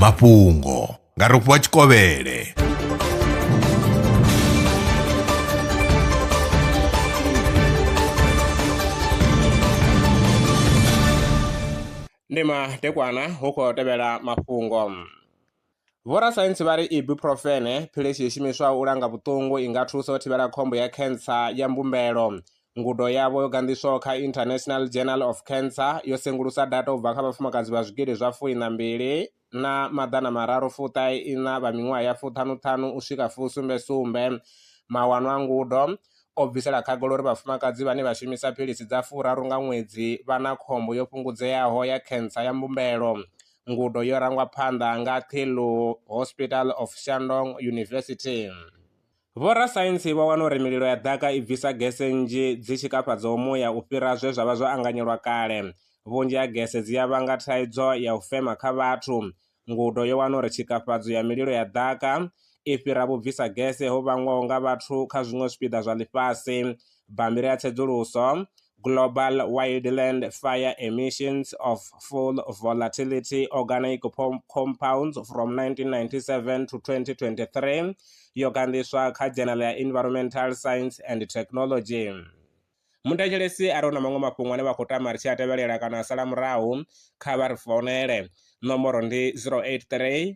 mafhungo nga rofhiwa tshikovhele ndi madekwana hu khou tevhela mafhungo Vhorasaintsi vha ri ibuprofene, philisi yo shumiswaho u langa vhuṱungu, i nga thusa u thivhela khombo ya khentsa ya mbumbelo. Ngudo yavho yo ganḓiswaho kha International Journal of Cancer yo sengulusa data u bva kha vhafumakadzi vha zwigidi zwa fui na mbili na maḓana mararu fuṱahe iṋa vha miṅwaha ya fuṱhanuṱhanu u swika fusumbe sumbe. Mawano a ngudo o bvisela khagala uri vhafumakadzi vhane vha shumisa philisi dza furaru nga ṅwedzi vha na khombo yo fhungudzeaho ya khentsa ya mbumbelo. Ngudo yo rangwa phanḓa nga Qilu Hospital of Shandong University. Vhorasaintsi vho wana uri mililo ya ḓaka i bvisa gese nnzhi dzi tshi kafhadzaho muya u fhira zwe zwa vha zwo anganyelwa kale. Vhunzhi ha gese dzi ya vhanga thaidzo ya u fema kha vhathu. Ngudo yo wana uri tshikafhadzo ya mililo ya ḓaka i fhira vhubvisa gese ho vhangwaho nga vhathu kha zwiṅwe zwipiḓa zwa ḽifhasi. Bammbiri ya tsedzuluso Global Wildland Fire Emissions of Full Volatility Organic Compounds from 1997 to 2023 yo gandiswa kha Journal ya Environmental Science and Technology. Muthetshelesi a re hu na maṅwe mafhungo ane vha khou tama ri tshi a tevhelela kana a sala murahu, kha vha ri founele. Nomboro ndi 083